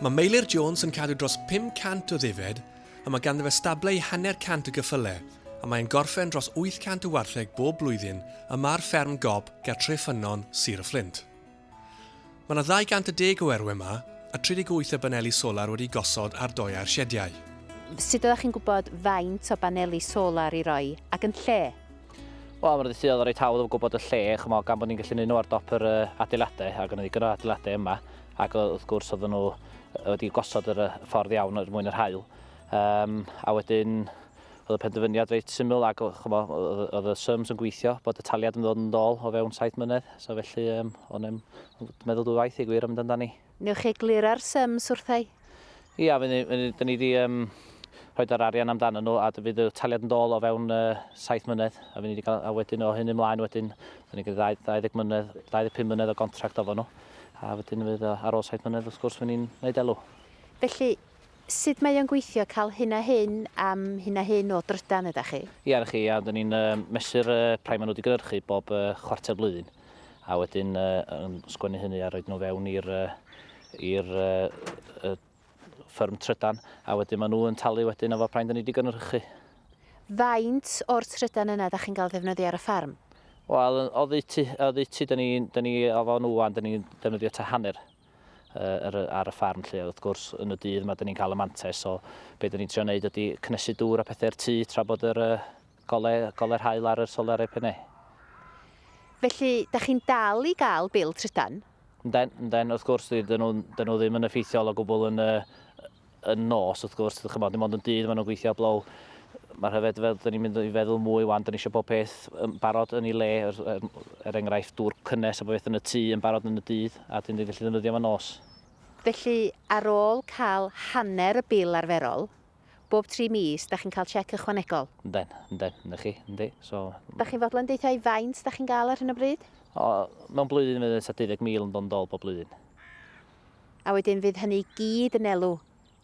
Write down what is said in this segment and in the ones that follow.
Mae Meilir Jones yn cadw dros 500 o ddifed a mae ganddo fe stable i hanner cant o geffylau a mae'n gorffen dros 800 o wartheg bob blwyddyn yma ar fferm Gob ger Tre Ffynnon, Sir y Fflint. Mae yna 210 o erwe yma a 38 o baneli solar wedi'u gosod ar doeau'r siediau. Sut oeddach chi'n gwybod faint o baneli solar i roi ac yn lle? Wel, mae'r ddydd oedd yn reit hawdd o gwybod y lle, chymod, gan bod ni'n gallu gwneud nhw ar dop yr adeiladau, ac yn ddigon o adeiladau yma, ac wrth gwrs oedd nhw wedi gosod yr ffordd iawn er mwyn yr hael. Um, a wedyn, oedd y penderfyniad reit syml, ac chymod, oedd y sums yn gweithio, bod y taliad yn ddod yn ddol o fewn saith mynedd, so felly um, o'n i'n meddwl dwy waith i gwir am amdani. Newch chi egluro'r sums wrthai? Ia, fydd ni, fydd ni wedi um, rhoi yr arian amdano nhw a fydd y taliad yn dôl o fewn uh, 7 mlynedd a fydd ni wedi cael, a wedyn o hyn ymlaen wedyn fydd ni'n cael 20 mlynedd, 25 mlynedd o gontract ofo nhw a wedyn fydd uh, ar ôl 7 mlynedd wrth gwrs fydd ni'n gwneud elw. Felly, sut mae o'n gweithio cael hyn a hyn am hyn a hyn o drydan ydych chi? Ia, na chi, ia, dyn ni'n uh, mesur uh, prime maen nhw wedi gynhyrchu bob uh, chwarter blwyddyn. a wedyn uh, yn sgwennu hynny a roed nhw fewn i'r i'r uh, ffyrm trydan, a wedyn maen nhw'n talu wedyn efo praen da ni wedi gynhyrchu. Faint o'r trydan yna da chi'n cael ddefnyddio ar y ffarm? Wel, o ddeutu, o ddeutu, da ni, da ni o fo'n wwan, da ni'n defnyddio ta hanner ar, ar y ffarm lle. Wrth gwrs, yn y dydd mae dyn ni'n cael y mantes, so beth dyn ni'n trio wneud ydy cnesu dŵr a pethau'r tŷ tra bod yr, Golau, golau haul ar yr solarau pennau. Felly, da chi'n dal i gael bil trydan? Ynden, ynden, wrth gwrs, dyn nhw, dyn nhw ddim yn effeithiol o gwbl yn, yn nos, wrth gwrs, ydych chymod, dim ond yn dydd maen nhw'n gweithio blow. Mae'r hyfed fel, dyn ni'n mynd i feddwl mwy wan, dyn ni eisiau pob peth yn barod yn ei le, er, er, er enghraifft dŵr cynnes a bob beth yn y tŷ yn barod yn y dydd, a dyn ni'n gallu ddefnyddio fo nos. Felly, ar ôl cael hanner y bil arferol, Bob tri mis, da chi'n cael chec ychwanegol? Yndan, yndan, ynda chi, yndi, so... Da chi'n fodlon deuthau faint da chi'n gael ar hyn o bryd? O, mewn blwyddyn fydd tua 20,000 yn dod yn dol bob blwyddyn. A wedyn fydd hynny i gyd yn elw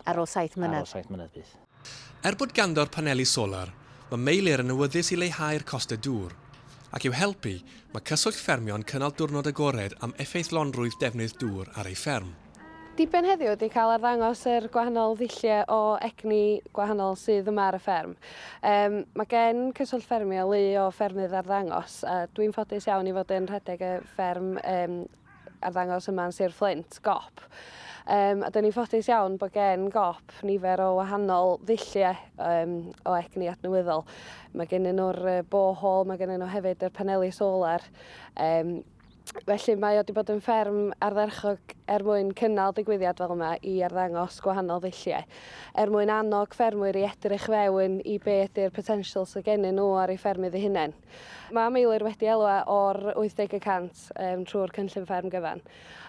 ar ôl saith mlynedd? Ar ôl saith mlynedd, bydd. Er bod ganddo'r paneli solar, mae Meilir yn awyddus i leihau'r costau dŵr. Ac i'w helpu, mae Cyswllt Ffermio yn cynnal diwrnod agored am effeithlonrwydd defnydd dŵr ar ei fferm. Diben heddiw ydy cael arddangos yr er gwahanol ddulliau o egni gwahanol sydd yma ar y fferm. Um, mae gen Cyswllt Ffermio lu o ffermydd arddangos a dwi'n ffodus iawn i fod yn rhedeg y fferm um, arddangos yma yn Sir Fflint, GOP. Um, a dyn ni'n ffodus iawn bod gen GOP nifer o wahanol ddulliau um, o egni adnewyddol. Mae gen nhw'r uh, borehole, mae gen nhw hefyd yr paneli solar. Um, Felly mae o wedi bod yn fferm ardderchog er mwyn cynnal digwyddiad fel yma i arddangos gwahanol ddulliau, er mwyn annog ffermwyr i edrych fewn i beth yw'r potensial sydd gennyn nhw ar ei ffermydd eu hunain. Mae Meilir wedi elwa o'r 80 y cant um, trwy'r cynllun fferm gyfan.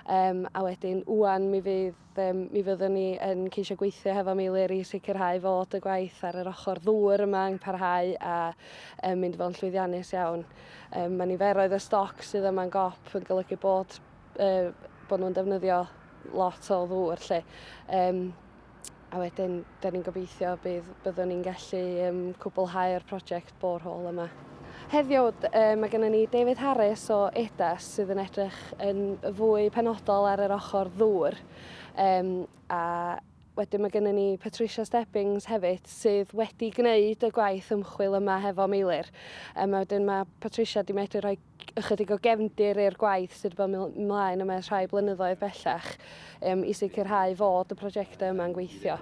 Um, a wedyn, wwan mi fydd Be mi fyddwn ni yn ceisio gweithio hefo Meilir i sicrhau fod y gwaith ar yr ochr ddŵr yma yn parhau a um, mynd fo'n llwyddiannus iawn. Um, mae niferoedd y stoc sydd yma'n gop yn golygu bod, uh, bod nhw'n defnyddio lot o ddŵr lle. Um, a wedyn, da ni'n gobeithio bydd byddwn ni'n gallu um, cwblhau'r prosiect borehole yma. Heddiw, mae gennym ni David Harris o EDAS sydd yn edrych yn fwy penodol ar yr ochr ddŵr. Um, a wedyn mae gennym ni Patricia Stebbings hefyd sydd wedi gwneud y gwaith ymchwil yma hefo Meilir. Um, a wedyn mae Patricia wedi medru rhoi ychydig o gefndir i'r gwaith sydd wedi bod ymlaen yma ers rhai blynyddoedd bellach um, i sicrhau fod y prosiectau yma'n gweithio.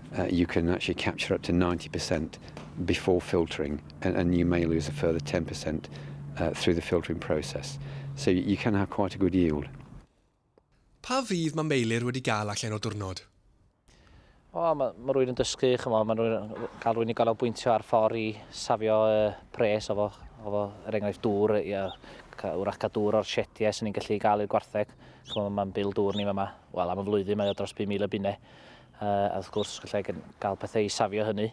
Uh, you can actually capture up to 90% before filtering, and, and you may lose a further 10% uh, through the filtering process. So you can have quite a good yield. Pa fydd mae Meilir wedi gael allan o diwrnod? O, mae ma rwy'n yn dysgu, chymo, mae rwy'n cael rwy'n i gael bwyntio ar ffordd i safio uh, pres o fo, o fo, er enghraifft dŵr, i, uh, wrach cael dŵr o'r sietiau sy'n ni'n gallu gael i'r gwartheg. Chymo, mae'n bil dŵr ni yma, wel am y flwyddyn mae o dros 5,000 y bunau. Uh, a wrth gwrs, gallai gael pethau i safio hynny.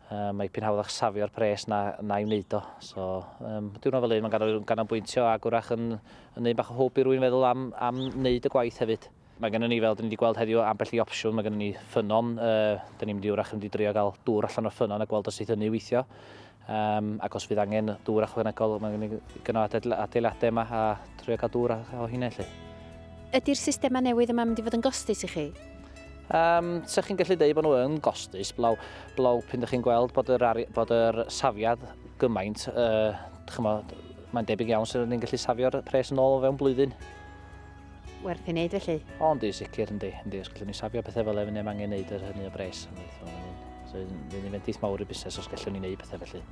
Uh, mae pyn hawddach safio'r pres na, na i wneud o. So, um, diwrnod fel un, mae'n ganol, ganolbwyntio ac wrach yn, yn un bach o hwb i rwy'n feddwl am, am wneud y gwaith hefyd. Mae gennym ni, fel dyn ni wedi gweld heddiw, ambell i opsiwn. Mae gennym ni ffynon. Uh, dyn ni'n mynd i wrach yn mynd i drio gael dŵr allan o'r ffynon a gweld os eith hynny weithio. Um, ac os fydd angen dŵr achwanegol, mae gen i gynnal adeiladau yma a trio cael dŵr o hynny lle. Ydy'r systemau newydd yma mynd i fod yn gostus i chi? Um, Sech chi'n gallu dweud bod nhw yn gostus, blaw, blaw pyn ydych chi'n gweld bod yr, ari, bod yr safiad gymaint, uh, chymod, mae'n debyg iawn sydd ni'n gallu safio'r pres yn ôl o fewn blwyddyn. werth i wneud felly. O, yndi, sicr, yndi, yndi. Os gallwn ni safio pethau fel efo neb angen wneud yr hynny o bres. So, fydd yn fendith mawr i busnes os gallwn ni wneud pethau felly.